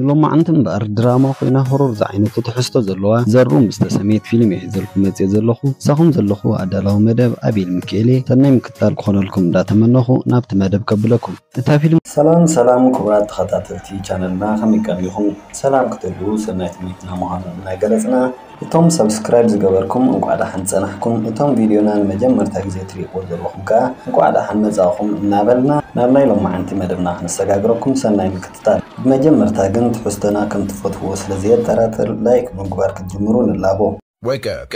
ንሎማዓንቲ እምበኣር ድራማ ኮይና ሆሮር ዝዓይነቱ ትሕዝቶ ዘለዋ ዘሩ ምስ ተሰምየት ፊልም እየ ሒዘልኩም መጽየ ዘለኹ ምሳኹም ዘለኹ ኣዳላዊ መደብ ኣቤል ምኪኤልየ ሰናይ ምክትታል ክኾነልኩም እንዳተመነኹ ናብቲ መደብ ከብለኩም እታ ፊልም ሰላም ሰላም ክቡራት ተኸታተልቲ ቻነልና ከመይ ቀኒኹም ሰላም ክትህልዉ ሰናይ ትምኒትና ምዃኑ እናገለጽና እቶም subscribe ዝገበርኩም እንቋዕ ዳሓን ጸናሕኩም እቶም ቪድዮና ንመጀመርታ ግዜ ትሪእዎ ዘለኹም ከኣ እንቋዕ ዳሓን መጻእኹም እናበልና ናብ ናይ ሎማዓንቲ መደብና ክንሰጋግረኩም ሰናይ ምክትታል ብመጀመርታ ግን ትሕዝቶና ከም ትፈትዉዎ ስለ ዘየጠራጥር like ብምግባር ክትጅምሩ ንላቦ። Wake up!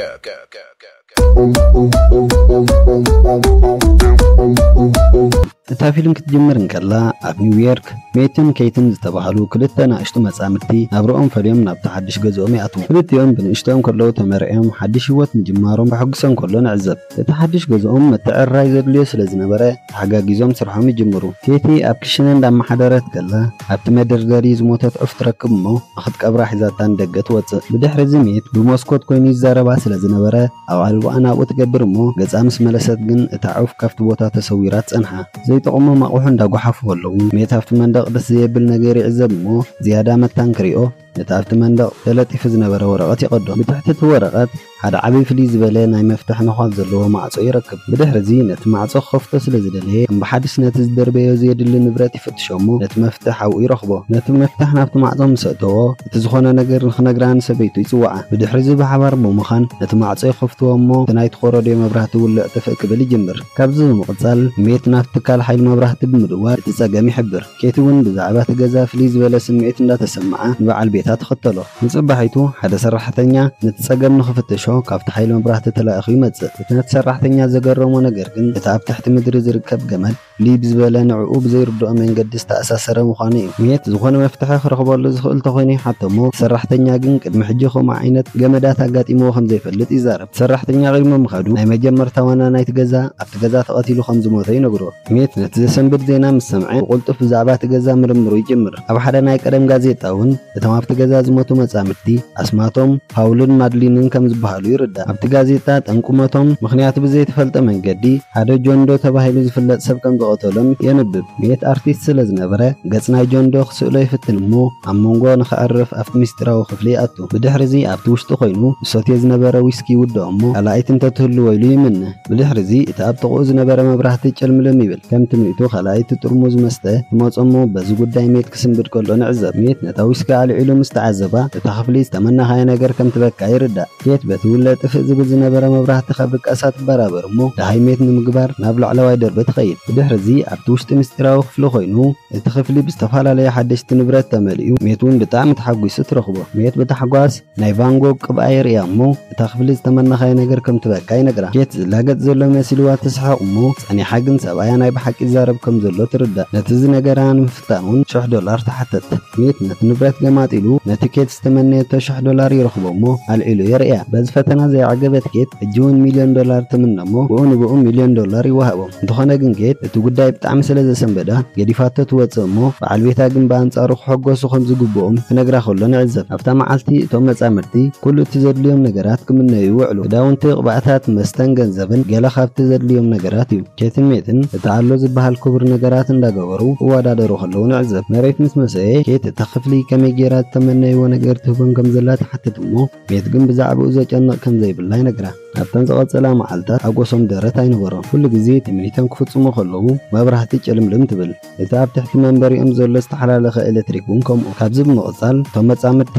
እታ ፊልም ክትጅምር እንከላ ኣብ ኒውዮርክ ሜትን ኬትን ዝተባህሉ ክልተ ናእሽቱ መጻምድቲ ናብርኦም ፈልዮም ናብቲ ሓድሽ ገዝኦም ይኣትዉ። ክልቲኦም ብንእሽትኦም ከለዉ ተመርዕዮም ሓድሽ ህይወት ምጅማሮም ከሐጉሶም ከሎ ንዕዘብ። እቲ ሓድሽ ገዝኦም ምትዕርራይ ዘድልዮ ስለ ዝነበረ፣ ተሓጋጊዞም ስርሖም ይጅምሩ። ኬቲ ኣብ ክሽነ እንዳመሓደረት ከላ ኣብቲ መደርደሪ ዝሞተት ዑፍ ትረክብ እሞ ንኽትቀብራ ሒዛታ ንደገ ትወጽእ። ብድሕሪ እዚ ሜት ብሞስኮት ኮይኑ ይዛረባ ስለ ዝነበረ ኣቓልቦኣ ናብኡ ትገብር እሞ ገጻ ምስ መለሰት ግን እታ ዑፍ ካብቲ ቦታ ተሰዊራ ትጸንሓ። ዘይጠቕሞም ኣቕሑ እንዳጎሓፉ ከለዉ ሜት ኣብቲ መንደቕ ደስ ዘየብል ነገር ይዕዘብ እሞ ዝያዳ መታን ክሪኦ። ነቲ ኣብቲ መንደቕ ተለጢፉ ዝነበረ ወረቐት ይቐዶ። ብትሕቲ እቲ ወረቐት ሓደ ዓቢ ፍልይ ዝበለ ናይ መፍትሕ ነዃል ዘለዎ ማዕጾ ይረክብ። ብድሕርዚ ነቲ ማዕጾ ክኸፍቶ ስለ ዝደለየ ከም ብሓድሽ ነቲ ዝደርበዮ ዘየድሊ ንብረት ይፍትሾ እሞ ነቲ መፍትሕ ኣብኡ ይረኽቦ። ነቲ መፍትሕ ናብቲ ማዕጾ ምስ ኣእተዎ እቲ ዝኾነ ነገር ንኽነግራ ንሰበይቱ ይጽውዓ። ብድሕርዚ ብሓባር ብምዃን ነቲ ማዕጾ ይኸፍትዎ እሞ እቲ ናይ ትኾረድዮ መብራህቲ ውልዕ ጥፍእ ክብል ይጅምር። ካብዚ ብምቕጻል ሜት ናብቲ ትካል ሓይሊ መብራህቲ ብምድዋል እቲ ጸገም ይሕብር። ኬቲ ውን ብዛዕባ እቲ ገዛ ፍልይ ዝበለ ስምዒት እንዳተሰምዓ ንበዓል ቤታ ትኽተሎ። ንጽባሒቱ ሓደ ሰራሕተኛ ነቲ ጸገም ንኽፍትሾ ካብቲ ሓይሊ መብራህቲ ተላኢኹ ይመጽእ። እቲ ነቲ ሰራሕተኛ ዘገረሞ ነገር ግን እቲ ኣብ ትሕቲ ምድሪ ዝርከብ ገመድ ፍልይ ብዝበለ ንዕኡ ብዘይርድኦ መንገዲ ዝተኣሳሰረ ምዃኑ እዩ። ኬቲ ዝኾነ መፍትሒ ክረኽበሉ ዝኽእል ተኾይኑ ይሓቶ እሞ እቲ ሰራሕተኛ ግን ቅድሚ ሕጂ ከምኡ ዓይነት ገመዳት ኣጋጢምዎ ከምዘይፈልጥ ይዛረብ። እቲ ሰራሕተኛ ቐዲሙ ምኻዱ ናይ መጀመርታ ዋና ናይቲ ገዛ ኣብቲ ገዛ ተቐቲሉ ከምዝሞተ ይነግሮ። ስሚት ነቲ ዘሰንብድ ዜና ምስ ሰምዐ ብቕልጡፍ ብዛዕባ እቲ ገዛ ምርምሩ ይጅምር። ኣብ ሓደ ናይ ቀደም ጋዜጣ እውን እቶም ኣብቲ ገዛ ዝሞቱ መጻምድቲ ኣስማቶም ፓውልን ማድሊንን ከም ዝበሃሉ ይርዳእ። ኣብቲ ጋዜጣ ጠንቁ ሞቶም ምኽንያቱ ብዘይተፈልጠ መንገዲ ሓደ ጆን ዶ ተባሂሉ ዝፍለጥ ሰብ ከም ዝቐተሎም የንብብ። ስሚት ኣርቲስት ስለ ዝነበረ ገጽ ናይ ጆን ዶ ክስእሎ ይፍትን እሞ ኣብ መንጎ ንኸዕርፍ ኣብቲ ምስጢራዊ ክፍሊ ይኣቱ። ብድሕሪዚ ኣብቲ ውሽጢ ኮይኑ ዝሰትዮ ዝነበረ ዊስኪ ይውድኦ እሞ ካልኣይቲ እንተትህልዎ ኢሉ ይምነ። ብድሕሪዚ እቲ ኣብ ጥቕኡ ዝነበረ መብራህቲ ጭልምልም ይብል። ከም ትምኒቱ ካልኣይቲ ጥርሙዝ መስተ ትመጾ እሞ በዚ ጉዳይ ሜት ክስንብድ ከሎ ንዕዘብ። ሜት ነታ ዊስኪ ኣልዒሉ ምስ ተዓዘባ እታ ክፍሊ ዝተመነኻዮ ነገር ከም ትበቅዓ ይርዳእ። ኬት በቲ ውለ ጥፍእ ዝብል ዝነበረ መብራህቲ ካብ ድቃሳ ትበራበር እሞ ደሃይ ሜት ንምግባር ናብ ላዕለዋይ ደርቢ ትኸይድ። ብድሕሪዚ ኣብቲ ውሽጢ ምስጢራዊ ክፍሊ ኮይኑ እቲ ክፍሊ ብዝተፈላለዩ ሓደሽቲ ንብረት ተመሊኡ ሜት ውን ብጣዕሚ ተሓጒሱ ትረኽቦ። ሜት ብታሕጓስ። ናይ ቫንጎግ ቅብኣ የርእያ እሞ እታ ክፍሊ ዝተመነኻዮ ነገር ከም ትበካ ይነግራ። ኬት ዝላገጽ ዘሎ መሲልዋ ትስሕቕ እሞ ጸኒሓ ግን ሰብኣያ ናይ ብሓቂ ይዛረብ ከም ዘሎ ትርዳእ። ነቲ ዝነገራ ንምፍታን እውን ሽሕ ዶላር ትሓትት። ስሚት ነቲ ንብረት ገማጢሉ ነቲ ኬት ዝተመነየቶ ሽሕ ዶላር ይረኽቦ እሞ ኣልዒሉ የርእያ። በዚ ፈተና ዘይዓገበት ኬት ሕጂ እውን ሚልዮን ዶላር ትምነ እሞ ብኡ ንብኡ ሚልዮን ዶላር ይወሃቦ። እንተኾነ ግን ኬት እቲ ጉዳይ ብጣዕሚ ስለ ዘሰንበዳ ገዲፋቶ ትወጽእ እሞ በዓል ቤታ ግን ብኣንጻሩ ክሕጎሱ ከም ዝግብኦም ክነግራ ከሎ ንዕዘብ። ኣብታ መዓልቲ እቶም መጻምድቲ ኩሉ እቲ ዘድልዮም ነገራት ክምነዩ ይውዕሉ። ክዳውንቲ፣ ቅብኣታት፣ መስተን ገንዘብን ገለ ካብቲ ዘድልዮም ነገራት እዩ። ኬትን ሜትን እቲ ኣሎ ዝበሃል ክቡር ነገራት እንዳገበሩ ክወዳደሩ ከለዉ ንዕዘብ። መሬት ምስ መሰየ ኬት እታ ክፍሊ ከመይ ጌራ ዝተመነይዎ ነገር ትህቦም ከም ዘላ ትሓትት እሞ፣ ቤት ግን ብዛዕባኡ ዘጨንቕ ከም ዘይብላ ይነግራ። ኣብተን ዝቐጸላ መዓልታት ሓጎሶም ደረት ኣይነበሮን። ኩሉ ግዜ ትምኒቶም ክፍጽሙ ከለዉ መብራህቲ ጭልምልም ትብል። እቲ ኣብ ትሕቲ መንበሪኦም ዘሎ ዝተሓላለኸ ኤለትሪክ እውን ከምኡ። ካብዚ ብምቕጻል እቶም መጻምድቲ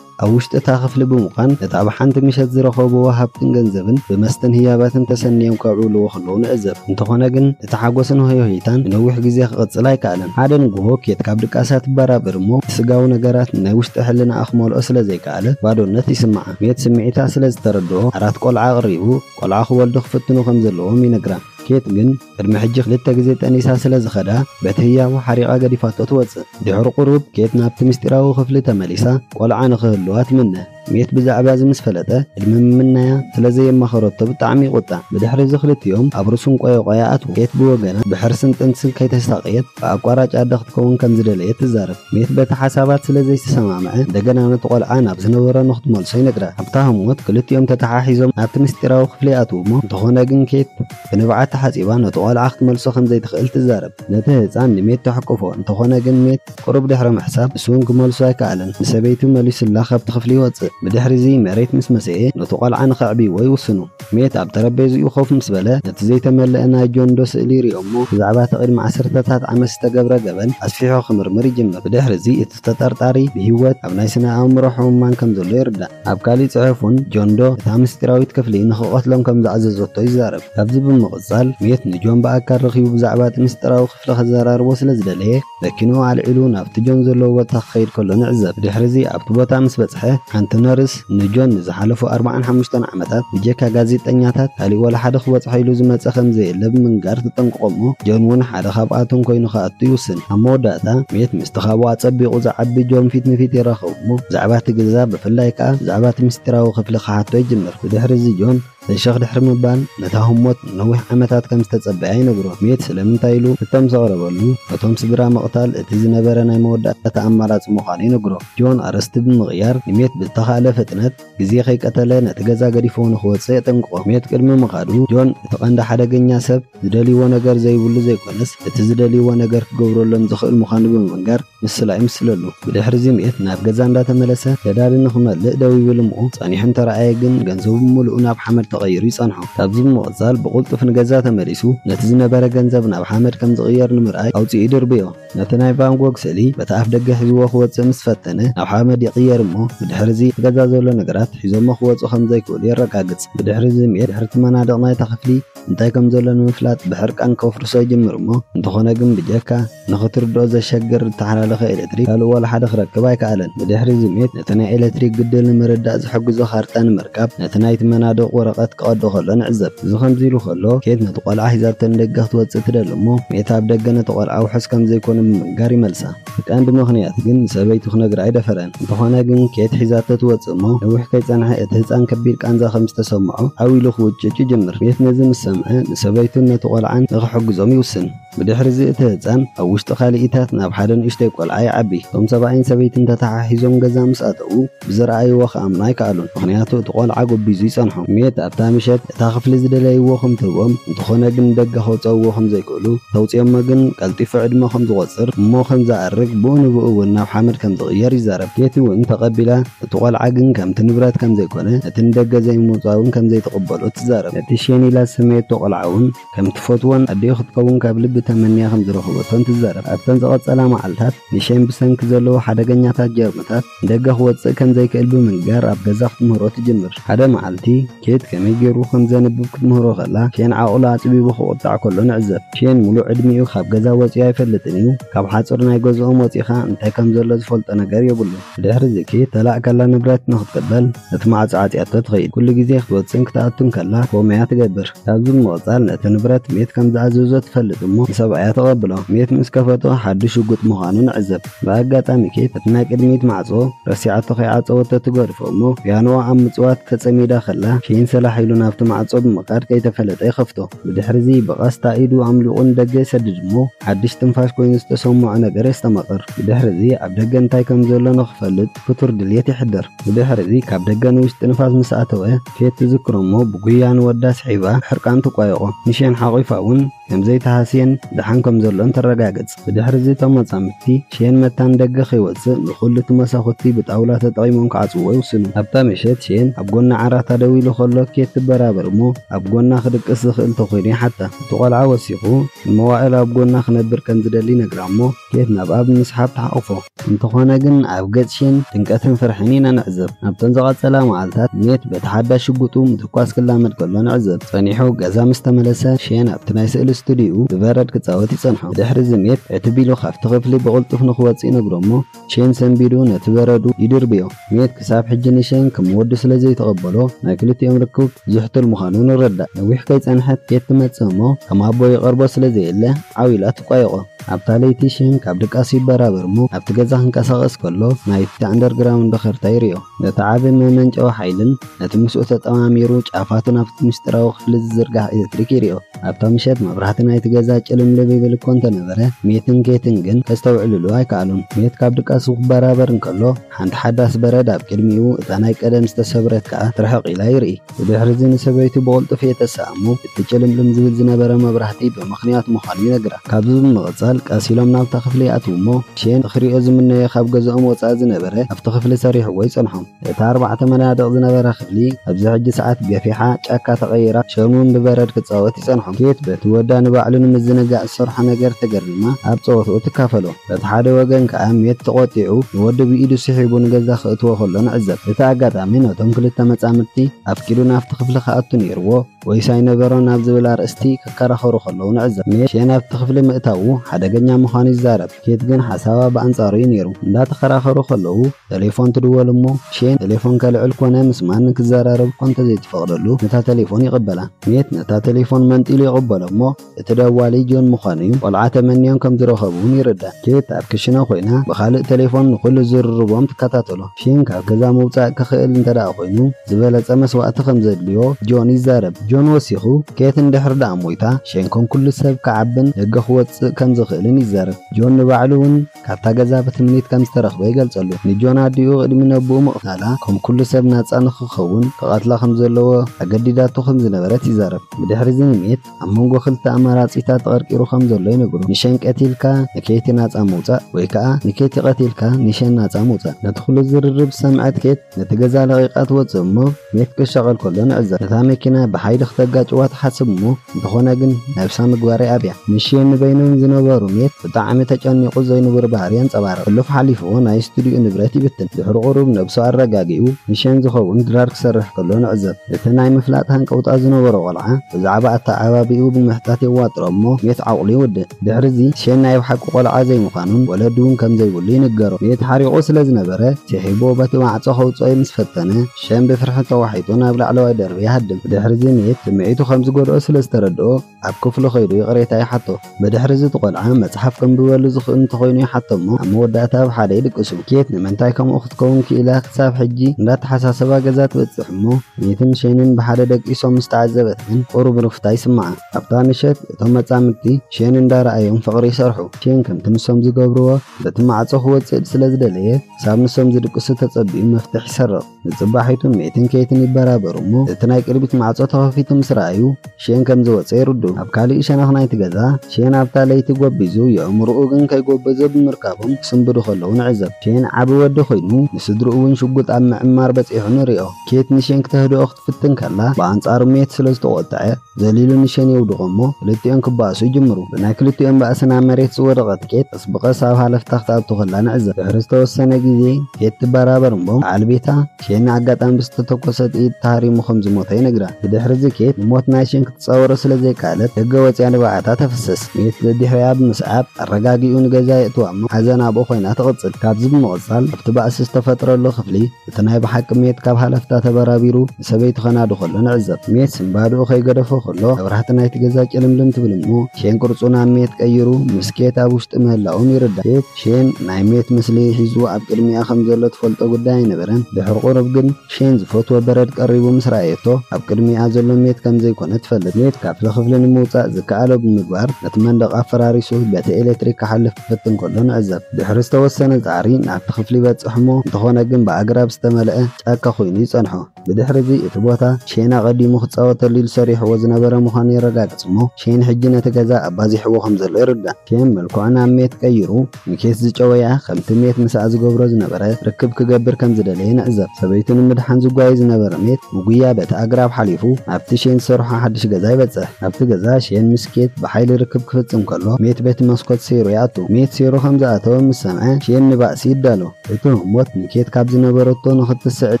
ኣብ ውሽጢ እታ ክፍሊ ብምዃን ነቲ ኣብ ሓንቲ ምሸት ዝረኸብዎ ሃብትን ገንዘብን ብመስተን ህያባትን ተሰንዮም ከብዕልዎ ከለዉ ንዕዘብ። እንተኾነ ግን እቲ ሓጎስን ሆዮሆይታን ንነዊሕ ግዜ ክቕጽል ኣይከኣለን። ሓደ ንግሆ ኬት ካብ ድቃሳ ትበራበር እሞ እቲ ስጋዊ ነገራት ንናይ ውሽጢ ሕልናኣ ክመልኦ ስለ ዘይከኣለ፣ በኣለት ባዶነት ይስምዓ። ኬት ስምዒታ ስለ ዝተረድኦ ኣራት ቆልዓ ኣቕሪቡ ቆልዓ ክወልዱ ክፍትኑ ከም ዘለዎም ይነግራ። ኬት ግን ቅድሚ ሕጂ ክልተ ግዜ ጠኒሳ ስለ ዝኸዳ በቲ ህያቡ ሓሪቓ ገዲፋቶ ትወጽእ። ድሕሪ ቁሩብ ኬት ናብቲ ምስጢራዊ ክፍሊ ተመሊሳ ቆልዓ ንኽህልዋ ትምነ። ሜት ብዛዕባ እዚ ምስ ፈለጠ ቅድሚ ምምናያ ስለ ዘየማኸረቶ ብጣዕሚ ይቑጣዕ። ብድሕሪ እዚ ክልቲኦም ኣብ ርእሱ እንቆየቖያ ኣትዉ። ኬት ብወገና ብሕርስን ጥንስን ከይተሳቐየት ብኣቋራጭ ኣደ ክትከውን ከም ዝደለየት ትዛረብ። ሜት በቲ ሓሳባት ስለ ዘይተሰማምዐ እንደገና ነቲ ቆልዓ ናብ ዝነበሮ ንኽትመልሶ ይነግራ። ኣብታ ህሞት ክልቲኦም ተተሓሒዞም ናብቲ ምስጢራዊ ክፍሊ ይኣትዉ'ሞ እንተኾነ ግን ኬት ብንብዓት ተሓጺባ ነቲ ቆልዓ ክትመልሶ ከም ዘይትኽእል ትዛረብ። ነቲ ህጻን ንሜት ተሕቁፎ እንተኾነ ግን ሜት ቁሩብ ድሕሪ ምሕሳብ ንሱ'ውን ክመልሶ ኣይከኣለን ንሰበይቱ መሊሱላ ካብቲ ክፍሊ ይወጽእ። ብድሕሪ'ዚ መሬት ምስ መሰየ ነቱ ቆልዓ ንኸዕብይዎ ይውስኑ። ሜት ኣብ ጠረጴዝኡ ኮፍ ምስ በለ፣ ነቲ ዘይተመልአ ናይ ጆን ዶ ስእሊ ሪኦ'ሞ፣ ብዛዕባ እቲ ቅድሚ ዓሰርተታት ዓመት ዝተገብረ ገበን ኣስፊሑ ክምርምር ይጅምር። ብድሕሪ'ዚ እቲ ተጠርጣሪ ብህይወት ኣብ ናይ ስነ-ኣእምሮ ሕሙማን ከም ዘሎ ይርዳእ። ኣብ ካሊእ ጽሑፉን፣ ጆን ዶ እታ ምስጢራዊት ክፍሊ ንኽቐትሎም ከም ዝኣዘዘቶ ይዛረብ። ካብዚ ብምቕጻል፣ ሜት ንጆን ብኣካል ረኺቡ ብዛዕባ እቲ ምስጢራዊ ክፍሊ። ክፍሊ ከዘራርቦ ስለ ዝደለየ፣ መኪንኡ ኣልዒሉ ናብቲ ጆን ዘለዎ ቦታ ክኸይድ ከሎ ንዕዘብ። ድሕርዚ ኣብቲ ቦታ ምስ በጽሐ፣ ሓንቲ ነርስ ንጆን ንዝሓለፉ ኣርባዓን ሓሙሽተን ዓመታት ብጀካ ጋዜጠኛታት ካልእ ዋላ ሓደ ክበጽሖ ኢሉ ዝመጸ ከም ዘየለ ብምንጋር ትጠንቅቖ'ሞ ጆን'ውን ሓደ ካብኣቶም ኮይኑ ክኣቱ ይውስን። ኣብ መወዳእታ፣ ሜት ምስቲ ካብኡ ኣጸቢቑ ዝዓቢ ጆን ፊት ንፊት ይራኸቡ'ሞ ብዛዕባ'ቲ ገዛ ብፍላይ ከኣ ብዛዕባ'ቲ ምስጢራዊ ክፍሊ ክሓቶ ይጅምር። ብድሕርዚ ጆን። ሰሸኽ ድሕሪ ምባል ነታ ህሞት ንነዊሕ ዓመታት ከም ዝተጸበያ ይነግሮ። ሜት ስለምንታይ ኢሉ ሕቶ ምስ ኣቕረበሉ፣ ነቶም ስድራ ምቕታል እቲ ዝነበረ ናይ መወዳእታ ኣማራጺ ምዃኑ ይነግሮ። ጆን ኣርእስቲ ብምቕያር ንሜት ብዝተኻእለ ፍጥነት ግዜ ከይቀተለ ነቲ ገዛ ገዲፍዎ ንኽወጽእ የጠንቅቖ። ሜት ቅድሚ ምኻዱ፣ ጆን እቲ ቀንዲ ሓደገኛ ሰብ፣ ዝደልይዎ ነገር ዘይብሉ ዘይኮነስ እቲ ዝደልይዎ ነገር ክገብረሎም ዝኽእል ምዃኑ ብምንጋር ምስላ ይምስለሉ። ብድሕሪ'ዚ ምት ናብ ገዛ እንዳተመለሰ ነዳዲ ንኽመልእ ደው ይብል እሞ ጸኒሑ እንተረኣየ ግን ገንዘቡ ብምሉኡ ናብ ሓመድ ተቐይሩ ይጸንሖ። ካብዚ ብምቕጻል ብቕልጡፍ ንገዛ ተመሊሱ ነቲ ዝነበረ ገንዘብ ናብ ሓመድ ከም ዝቕየር ንምርኣይ ኣውጺኡ ይድርብዮ። ነቲ ናይ ቫን ጎግ ስእሊ በቲ ኣፍደገ ሒዝዎ ክወጽእ ምስ ፈተነ፣ ናብ ሓመድ ይቕየር እሞ ብድሕርዚ ኣብ ገዛ ዘሎ ነገራት ሒዞሞ ክወጹ ከም ዘይክእሉ የረጋግጽ። ብድሕርዚ ምየት ድሕሪ እቲ መናድቕ ናይታ ክፍሊ እንታይ ከም ዘሎ ንምፍላጥ ብሕርቃን ከፍርሶ ይጅምር እሞ እንተኾነ ግን ብጀካ ንኽትርድኦ ዘሸግር ዝተሓላለኸ ኤለትሪክ ካልእ ዋላ ሓደ ክረክብ ኣይከኣለን። ብድሕርዚ ምየት እቲ ናይ ኤለትሪክ ግድል ንምርዳእ ዝሕግዞ ካርታ ንምርካብ ነቲ ናይቲ መናድቕ ወረቐት ክቐዶ ከሎ ንዕዘብ። እዚ ከምዚ ኢሉ ከሎ፣ ኬት ነቲ ቆልዓ ሒዛቶ ንደገ ክትወጽእ ትደሊ እሞ፣ ሜታ ኣብ ደገ ነቲ ቆልዓ ውሑስ ከም ዘይኮነ ብምንጋር ይመልሳ። እቲ ቀንዲ ምኽንያት ግን ንሰበይቱ ክነግራ ኣይደፈረን። እንተኾነ ግን ኬት ሒዛቶ ትወጽእ እሞ፣ ነዊሕ ከይጸንሐ እቲ ህጻን ከቢድ ቃንዛ ከም ዝተሰምዖ ዓው ኢሉ ክውጭጭ ይጅምር። ኬት ነዚ ምስ ሰምዐ፣ ንሰበይቱን ነቲ ቆልዓን ንኽሕግዞም ይውስን። ብድሕርዚ እቲ ህጻን ኣብ ውሽጢ ካልኢታት ናብ ሓደ ንእሽተይ ቆልዓ ይዓቢ። እቶም ሰብኣይን ሰበይትን ተተሓሒዞም ገዛ ምስ ኣተዉ ብዝረኣይዎ ክኣምኑ ኣይከኣሉን፣ ምኽንያቱ እቲ ቆልዓ ጎቢዙ ይጸንሖም። ሜት ኣብታ ምሸት እታ ክፍሊ ዝደለይዎ ከም ትህቦም፣ እንተኾነ ግን ንደገ ከውጸእዎ ከም ዘይክእሉ፣ ተውጺኦሞ ግን ቀልጢፉ ዕድመ ከም ዝቖጽር እሞ ከም ዝኣርግ ብኡ ንብኡ እውን ናብ ሓመድ ከም ዝቕየር ይዛረብ። ኬቲ እውን ተቐቢላ፣ እቲ ቆልዓ ግን ከምቲ ንብረት ከም ዘይኮነ፣ ነቲ ንደገ ዘይምውጻእ እውን ከም ዘይትቕበሎ ትዛረብ። ነቲ ሼን ኢላ ዝሰመየቶ ቆልዓ እውን ከም ትፈትዎን ኣዲኡ ክትከውን ካብ ልቢ ተመንያ ከም ዝረኸበቶን ትዛረብ። ኣብተን ዝቐጸላ መዓልታት፣ ሚሸን ብሰንኪ ዘለዎ ሓደገኛታት ጀርምታት ንደገ ክወጽእ ከም ዘይክእል ብምንጋር ኣብ ገዛ ክትምህሮ ትጅምር። ሓደ መዓልቲ፣ ኬት ከመይ ገይሩ ከም ዘንብብ ክትምህሮ ከላ፣ ሼን ዓቕሉ ኣጽቢቡ ክቑጣዕ ከሎ ንዕዘብ። ሼን ምሉእ ዕድሚኡ ካብ ገዛ ወጺኡ ኣይፈልጥን እዩ። ካብ ሓጹር ናይ ገዝኦም ወጺእካ እንታይ ከም ዘሎ ዝፈልጦ ነገር የብሉን። ብድሕርዚ ኬት ተላእካላ ንብረት ንኽትቅበል ነቲ ማዕጾ ዓጽያቶ ትኸይድ። ኩሉ ግዜ ክትወጽእን ክትኣቱን ከላ፣ ፎም እያ ትገብር። ካብዚ ብምቕጻል ነቲ ንብረት ሜት ከም ዝኣዘዞ ትፈልጥ እሞ ንሰብኣያ ተቐብሎ። ሜት ምስ ከፈቶ ሓድሽ ሽጉጥ ምዃኑ ንዕዘብ። ብኣጋጣሚ ኬት ነቲ ናይ ቅድሚት ማዕጾ ረሲዓቶ ከይዓጸወቶ ትገድፎ እሞ ፒያኖኣ ኣብ ምጽዋት ተጸሚዳ ከላ ኬን ሰላሕ ኢሉ ናብቲ ማዕጾ ብምኻድ ከይተፈለጠ ይኸፍቶ። ብድሕርዚ ብቐስታ ኢዱ ኣምሊቑ ንደገ ይሰድድ እሞ ሓድሽ ትንፋሽ ኮይኑ ዝተሰምዖ ነገር የስተማቕር። ብድሕርዚ ኣብ ደገ እንታይ ከም ዘሎ ንኽፈልጥ ክቱር ድልየት የሕድር። ብድሕርዚ ካብ ደገ ንውሽጢ ንፋስ ምስ ኣተወ፣ ኬት ትዝክሮ'ሞ ብጉያ ንወዳ ስሒባ ሕርቃን ትቋየቖ። ንሼን ሓቚፋ ውን ከም ዘይተሃስየን ደሓን ከም ዘሎን ተረጋግጽ። ብድሕሪ'ዚ እቶም መጻምድቲ፣ ሼን መታ ንደገ ከይወጽእ ንኹሉ'ቲ መሳኹቲ ብጣውላ ተጠቒሞም ክዓጽውዎ ይውስኑ። ኣብታ ምሸት ሼን ኣብ ጎኒ ዓራታ ደው ኢሉ ከሎ ኬት ትበራበር'ሞ ኣብ ጎና ክድቅስ ዝኽእል ተኾይኑ ይሓታ። እቲ ቆልዓ ወሲኹ ንመዋእል ኣብ ጎና ክነብር ከም ዝደሊ ይነግራ'ሞ፣ ኬፍ ናብ ኣብ ምስሓብ ተሓቝፎ። እንተዀነ ግን ኣብ ገጽሽን ጭንቀትን ፍርሕን ኢና ንዕዘብ። ናብተን ዝቐጸላ መዓልታት ኔት በቲ ሓዳሽ ሽጉጡ ምትኳስ ክላመድ ከሎ ንዕዘብ። ጸኒሑ ገዛ ምስ ተመለሰ ሼን ኣብቲ ናይ ስእሊ ስቱድዩኡ ብበረድ ክጻወት ይጸንሖ። ብድሕርዚ ኔት ዕትብ ኢሉ ካብቲ ክፍሊ ብቕልጡፍ ንኽወጽእ ይነግሮ እሞ ሼን ሰንቢዱ ነቲ በረዱ ይድርብዮ። ሜት ክሳብ ሕጂ ንሸይን ከም ወዱ ስለ ዘይተቐበሎ ናይ ክልቲኦም ርክብ ዝሕቱል ምዃኑ ንረዳእ። ነዊሕ ከይጸንሐት ኬት ትመጽእ እሞ ከም ኣቦ ይቐርቦ ስለ ዘየለ ዓው ኢላ ትቋየቖ። ኣብታ ለይቲ ሸይን ካብ ድቃሱ ይበራበር እሞ ኣብቲ ገዛ ክንቀሳቐስ ከሎ ናይቲ ኣንደርግራውንድ ኸርታ ይሪኦ። ነቲ ዓቢ መመንጨዊ ሓይልን ነቲ ምስኡ ተጠማሚሩ ጫፋቱ ናብቲ ምስጢራዊ ክፍሊ ዝዝርጋሕ ኤለትሪክ ይሪኦ። ኣብታ ምሸት መብራህቲ ናይቲ ገዛ ጭልምልም ይብል እኮ እንተነበረ ሜትን ኬትን ግን ከስተውዕልሉ ኣይከኣሉን። ሜት ካብ ድቃሱ ክበራበር እንከሎ። ሓንቲ ሓዳስ በረድ ኣብ ቅድሚኡ፣ እታ ናይ ቀደም ዝተሰብረት ከኣ ትርሕቕ ኢላ ይርኢ። ብድሕርዚ ንሰበይቱ ብቕልጡፍ የተስኣ እሞ፣ እቲ ጭልምልም ዝብል ዝነበረ መብራህቲ ብምኽንያት ምዃኑ ይነግራ። ካብዚ ብምቕጻል ቀስ ኢሎም ናብታ ክፍሊ ይኣትዉ እሞ፣ ሼን ንኽርእዮ ዝምነዮ ካብ ገዝኦም ወጻኢ ዝነበረ ኣብቲ ክፍሊ ሰሪሕዎ ይጸንሖም። እቲ ኣርባዕተ መናድቕ ዝነበራ ክፍሊ ኣብዚ ሕጂ ሰዓት ገፊሓ ጫካ ተቐይራ፣ ሼን'ውን ብበረድ ክጻወት ይጸንሖም። ኬት በቲ ወዳ ንባዕሉ ንምዝንጋዕ ዝሰርሖ ነገር ተገሪማ ኣብ ጸወትኡ ትካፈሎ። በቲ ሓደ ወገን ከኣ ሜት ተቖጢዑ ንወዱ ብኢዱ ስሒቡ ንገዛ ክእትዎ ከሎ ንዕዘብ። እቲ ኣጋጣሚ ነቶም ክልተ መጻምድቲ ኣፍቂዱ ናብቲ ክፍሊ ክኣቱ ነይርዎ ወይስ ኣይነበሮን ኣብ ዝብል ኣርእስቲ ክከራኸሩ ከለዉ ንዕዘብ። ሜት ናብቲ ክፍሊ ምእታዉ ሓደገኛ ምዃኑ ይዛረብ፣ ኬት ግን ሓሳባ ብኣንጻሩ'ዩ ነይሩ። እንዳተኸራኸሩ ከለዉ ተሌፎን ትድወል እሞ ሼን ተሌፎን ከልዕል ኮነ ምስ ማንም ክዘራረብ'ኳ እንተዘይትፈቕደሉ ነታ ተሌፎን ይቕበላ። ሜት ነታ ተሌፎን መንጢሉ ይቕበሎ እሞ እቲ ደዋሊ ጆን ምዃኑ'ዩ። ቆልዓ ተመንዮም ከም ዝረኸቡ'ውን ይርዳእ። ኬት ኣብ ክሽነ ኾይና ብኻልእ ተሌፎን ንኹሉ ዝርርቦም ትከታተሎ። ሺን ካብ ገዛ ምውጻእ ክኽእል እንተደኣ ኾይኑ ዝበለጸ መስዋእቲ ከም ዘድልዮ ጆን ይዛረብ። ጆን ወሲኹ፣ ኬት እንድሕር ደኣ ሞይታ፣ ሺን ከም ኩሉ ሰብ ክዓብን ደገ ክወጽእ ከም ዝኽእልን ይዛረብ። ጆን ንባዕሉ'ውን ካብታ ገዛ ብትምኒት ከም ዝተረኽበ ይገልጸሉ። ንጆን ኣዲኡ ቅድሚ ነቦኡ ምቕታላ ከም ኩሉ ሰብ ናጻ ንኽኸውን ክቐትላ ከም ዘለዎ ኣገዲዳቶ ከም ዝነበረት ይዛረብ። ብድሕሪ'ዚ ንሜት። ኣብ መንጎ ክልተ ኣማራጺታት ተቐርቂሩ ከም ዘሎ ይነግሩ። ንሸን ቀቲልካ ንኬቲ ናጻ ምውጻእ ወይ ከኣ ንኬቲ ቀቲልካ ንሸን ናጻ ምውጻእ። ነቲ ኩሉ ዝርርብ ዝሰምዐት ኬት ነቲ ገዛ ለቒቓ ትወጽእ እሞ ሜክ ክሻቐል ከሎ ንዕዘብ። ነታ መኪና ብሓይሊ ክተጋጭዋ ትሓስብ እሞ እንተኾነ ግን ነብሳ ምግባር ይኣብያ። ንሸን ንበይኖም ዝነበሩ ሜት ብጣዕሚ ተጨኒቑ ዘይንቡር ባህሪ የንጸባርቕ። ሕሉፍ ሓሊፉ ናይ ስቱድዩኡ ንብረት ይብትን። ድሕሪ ቁሩብ ነብሱ ኣረጋጊኡ ንሸን ዝኸውን ድራር ክሰርሕ ከሎ ንዕዘብ። እቲ ናይ ምፍላጥ ሃንቀውታ ዝነበሮ ቆልዓ ብዛዕባ ኣተዓባብይኡ ብምሕታት የዋጥሮ እሞ ሜት ዓቕሉ ይውድእ። ድሕሪዚ ሼን ናይ ብሓቂ ቆልዓ ዘይምዃኑን ወለዱውን ከም ዘይብሉ ይንገሮ። ሜት ሓሪቑ ስለ ዝነበረ ሲሒቡዎ በቲ ማዕጾ ከውጽኦ'ዩ ምስ ፈተነ ሼን ብፍርሒ ተዋሒጡ ናብ ላዕለዋይ ደርቢ ይሃድም። ድሕሪዚ ሜት ስምዒቱ ከም ዝጎድኦ ስለ ዝተረድኦ፣ ኣብ ክፍሉ ከይዱ ይቕሬታ ይሓቶ። ብድሕሪ'ዚ እቲ ቆልዓ መጽሓፍ ከንብበሉ ዝኽእል እንተኾይኑ ይሓቶ'ሞ ኣብ መወዳእታ ኣብ ሓደ ይድቅሱ። ኬት ንምንታይ ከምኡ ክትከውን ክኢላ ክሳብ ሕጂ እንዳተሓሳሰባ ገዛ ትበጽሕ'ሞ ኔትን ሼንን ብሓደ ደቂሶም ምስ ተዓዘበት ግን ቁሩብ ርፍታ ይስምዓ። ኣብታ ምሸት እቶም መጻምድቲ ሼን እንዳረኣዮም ፍቕሪ ይሰርሑ። ሼን ከምቲ ንሶም ዝገብርዎ በቲ ማዕጾ ክወጽእ ስለዝደለየ ክሳብ ንሶም ዝድቅሱ ተጸቢዩ መፍትሕ ይሰርቕ። ንጽባሒቱን ሜትን ኬትን ይበራበሩ እሞ እቲ ናይ ቅድሚት ማዕጾ ተኸፊቱ ምስ ረኣዩ ሼን ከም ዝወጸ ይርዱ። ኣብ ካልእ ሸነኽ ናይቲ ገዛ ሼን ኣብታ ለይቲ ጎቢዙ የእምሮኡ ግን ከይጎበዘ ብምርካቦም ክስንብዱ ከለዉ ንዕዘብ። ሼን ዓቢ ወዲ ኮይኑ ንስድርኡ እውን ሽጉጥ ኣብ ምዕማር በጺሑ ንሪኦ። ኬት ንሼን ክተህድኦ ክትፍትን ከላ ብኣንጻሩ ሜት ስለ ዝተቖጥዐ፣ ዘሊሉ ንሸን የውድቖ እሞ ክልቲኦም ክባእሱ ይጅምሩ። ብናይ ክልቲኦም ባእሲ ናብ መሬት ዝወደቐት ኬት ቀስ ብቐስ ኣብ ሃለፍታ ክትኣቱ ከላ ንዕዘብ። ድሕሪ ዝተወሰነ ግዜ ኬት ትበራበር እሞ በዓል ቤታ ሼን ንኣጋጣሚ ብዝተተኮሰ ጥይት ተሃሪሙ ከም ዝሞተ ይነግራ። ብድሕሪዚ ኬት ንሞት ናይ ሼን ክትጻወሮ ስለ ዘይከኣለት ደገ ወጺኣ ንብዓታ ተፍስስ። ስሚት ደድሕሪኣ ብምስዓብ ኣረጋጊኡ ንገዛ የእትዋ እሞ ሓዘን ኣብኡ ኮይና ትቕጽል። ካብዚ ብምቕጻል ኣብቲ ባእሲ ዝተፈጥረሉ ክፍሊ እቲ ናይ ብሓቂ ሜት ካብ ሃለፍታ ተበራቢሩ ንሰበይ ትኸናዱ ከሎ ንዕዘብ። ሜት ባዶኡ ከይገደፎ ከሎ መብራህቲ ናይቲ ገዛ ጭልምልም ትብል እሞ ሼን ቅርጹ ናብ ሜት ቀይሩ ምስ ኬት ኣብ ውሽጢ ምህላዎም ይርዳእ። ኬት ሼን ናይ ሜት ምስሊ ሒዙ ኣብ ቅድሚኣ ከም ዘሎ ትፈልጦ ጉዳይ ኣይነበረን። ድሕሪ ቁሩብ ግን ሼን ዝፈትዎ በረድ ቀሪቡ ምስ ረኣየቶ ኣብ ቅድሚኣ ዘሎ ሜት ከም ዘይኮነ ትፈልጥ። ሜት ካብቲ ክፍሊ ንምውጻእ ዝከኣሎ ብምግባር ነቲ መንደቕ ኣፈራሪሱ በቲ ኤለትሪክ ክሓልፍ ክፍትን ከሎ ንዕዘብ። ድሕሪ ዝተወሰነ ጻዕሪ ናብቲ ክፍሊ ይበጽሕ'ሞ እንተኾነ ግን ብኣግራብ ዝተመልአ ጫካ ኮይኑ ይጸንሖ። ብድሕርዚ እቲ ቦታ ሼን ኣቐዲሙ ክጻወተሉ ኢሉ ሰሪሕዎ ዝነበረ ምዃኑ የረጋግጽ'ሞ ሼን ሕጂ ነቲ ገዛ ኣባዚሕዎ ከም ዘሎ ይርዳእ። ሼን መልክዑ ናብ ሜት ቀይሩ ንኬት ዝጨወያ ከምቲ ሜት ምሳኣ ዝገብሮ ዝነበረ ርክብ ክገብር ከም ዝደለየ ንዕዘብ። ሰበይቱ ንምድሓን ዝጓየ ዝነበረ ሜት ብጉያ በቲ ኣግራብ ሓሊፉ ናብቲ ሼን ዝሰርሖ ሓድሽ ገዛ ይበጽሕ። ኣብቲ ገዛ ሼን ምስ። ኬት ብሓይሊ ርክብ ክፍጽም ከሎ፣ ሜት በቲ መስኮት ሰይሩ ይኣቱ። ሜት ሰይሩ ከም ዝኣተወ ምስ ሰምዐ፣ ሼን ንባእሲ ይዳሎ። እቲ ህሞት ንኬት ካብ ዝነበረቶ ንኽትስዕል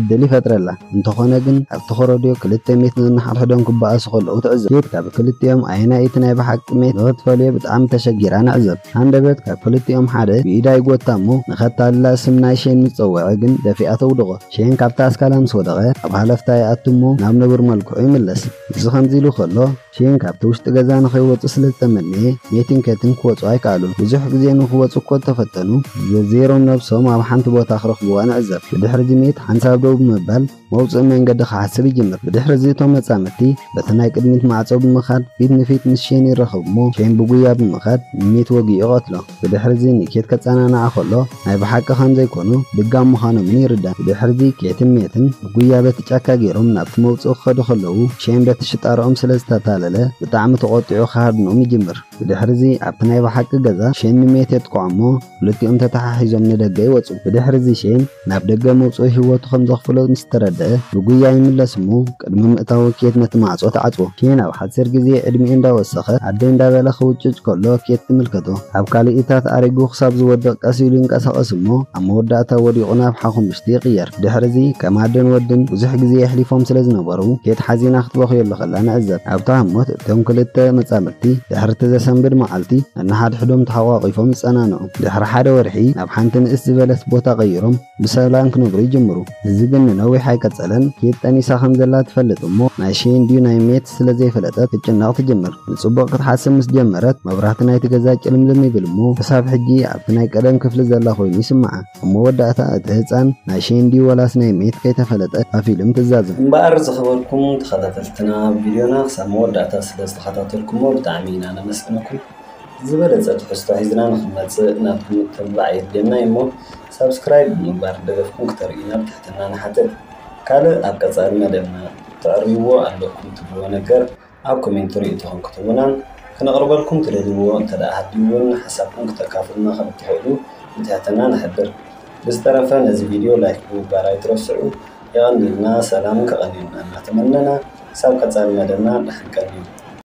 ዕድል ይፈጥረላ። እንተኾነ ግን፣ ኣብቲ ኮረድዮ ክልተ ሜት ነንሓድሕዶም ክበኣሱ ከለዉ ትዕዘብ። ኬት ካብ ክልቲኦም ኣየናይ እቲ ናይ ብሓቂ ሜት ንኽትፈልዮ ብጣዕሚ ተሸጊራ ንዕዘብ። ሃንደበት ካብ ክልቲኦም ሓደ ብኢዳ ይጎታ እሞ ንኸታልላ ስም ናይ ሼን ምስ ጸውዐ ግን ደፊኣ ተውድቖ። ሼን ካብታ ኣስካላ ምስ ወደቐ ኣብ ሃለፍታ ይኣቱ እሞ ናብ ንቡር መልክዑ ይምለስ። እዚ ከምዚ ኢሉ ከሎ፣ ሺን ካብቲ ውሽጢ ገዛ ንኸይወጹ ስለ ዝተመነየ፣ ሜቲን ኬትን ክወጹ ኣይከኣሉን። ብዙሕ ግዜ ንኽወጹ እኮ እንተፈተኑ፣ ዘዚሮም ነብሶም ኣብ ሓንቲ ቦታ ክረኽቡዋ ንዕዘብ። ብድሕሪ'ዚ ሜት ሓንሳብ ደው ብምባል መውጽኢ መንገዲ ክሓስብ ይጅምር። ብድሕሪ'ዚ እቶም መጻምድቲ በቲ ናይ ቅድሚት ማዕጾ ብምኻድ ፊት ንፊት ምስ ሺን ይራኸቡ'ሞ፣ ሺን ብጉያ ብምኻድ ንሜት ወጊኡ ይቐትሎ። ብድሕርዚ ንኬት ከጸናንዓ ከሎ ናይ ብሓቂ ከም ዘይኮኑ ልጋም ምዃኖምን ይርዳእ። ብድሕርዚ ኬትን ሜትን ብጉያ በቲ ጫካ ጌሮም ናብቲ መውጽኢ ክኸዱ ከለዉ ሼን በቲ ሽጣራኦም ስለ ዝተታለለ ብጣዕሚ ተቖጢዑ ክሃድኖም ይጅምር። ብድሕርዚ ኣብቲ ናይ ብሓቂ ገዛ ሼን ንሜት የጥቅዖ እሞ ክልቲኦም ተተሓሒዞም ንደገ ይወጹ። ብድሕርዚ ሼን ናብ ደገ ምውጽኡ ህይወቱ ከም ዘኽፍሎ ምስ ተረድኣ፣ ብጉያ ይምለስ እሞ ቅድሚ ምእታዉ ኬት ነቲ ማዕጾ ትዓጽዎ። ኬን ኣብ ሓጺር ግዜ ዕድሚኡ እንዳ ወሰኸ ኣደይ እንዳ በለ ክውጭጭ ከሎ ኬት ትምልከቶ። ኣብ ካልኢታት ኣሪጉ ክሳብ ዝወድቕ ቀስ ኢሉ ይንቀሳቐስ እሞ ኣብ መወዳእታ ወዲቑ ናብ ሓኹምሽቲ ይቕየር። ድሕርዚ ከም ኣደን ወድን ብዙሕ ግዜ የሕሊፎም ስለ ዝነበሩ ኬት ሓዚና ክትበኽየሉ ከላ ንዕዘብ። ኣብታ ህሞት እቶም ክልተ መጻምድቲ ድሕርቲ ዘሰንብድ መዓልቲ ነንሓድሕዶም ተሓቋቒፎም ይጸናንዑ። ድሕሪ ሓደ ወርሒ ናብ ሓንቲ ንእስ ዝበለት ቦታ ቀይሮም ብሰላም ክነብሩ ይጅምሩ። እዚ ግን ንነዊሕ ኣይቀጸለን። ኬት ጠኒሳ ከም ዘላ ትፈልጥ እሞ ናይ ሸይን ድዩ ናይ ሜት ስለ ዘይፈለጠት ክትጭነቕ ትጅምር። ንጽቡቕ ክትሓስብ ምስ ጀመረት መብራህቲ ናይቲ ገዛ ጭልምልም ይብል እሞ ክሳብ ሕጂ ኣብቲ ናይ ቀደም ክፍሊ ዘላ ኮይኑ ይስምዓ። ኣብ መወዳእታ እቲ ህጻን ናይ ሸይን ድዩ ወላስ ናይ ሜት ከይተፈለጠ እታ ፊልም ትዛዘም። እምበኣር ዝኸበርኩም ተኸታተልትና ቪድዮና ክሳብ መወዳእታ ስለ ዝተኸታተልኩሞ ብጣዕሚ ኢና ነመስግነኩም። ዝበለፀ ትሕዝቶ ሒዝና ንኽንመፅእ ናብ ግምት ምግባዕ የድልየና እዩ እሞ ሳብስክራይብ ብምግባር ደገፍኩም ክተርእዩና ብትሕትና ንሓትት። ካልእ ኣብ ቀፃሊ መደብና ተዕርይዎ ኣለኩም ትብልዎ ነገር ኣብ ኮሜንቲ ርእይቶኹም ክትህቡናን ክነቕርበልኩም ትደልይዎ እንተድኣ ሃልዩ እውን ሓሳብኩም ክተካፍሉና ከምትኽእሉ ብትሕትና ንሕብር። ብዝተረፈ ነዚ ቪድዮ ላይክ ብምግባር ኣይትረስዑ። የቐንየልና ሰላምን ከቐንየልና እናተመነና ክሳብ ቀፃሊ መደብና ደሓን ቀንዩ።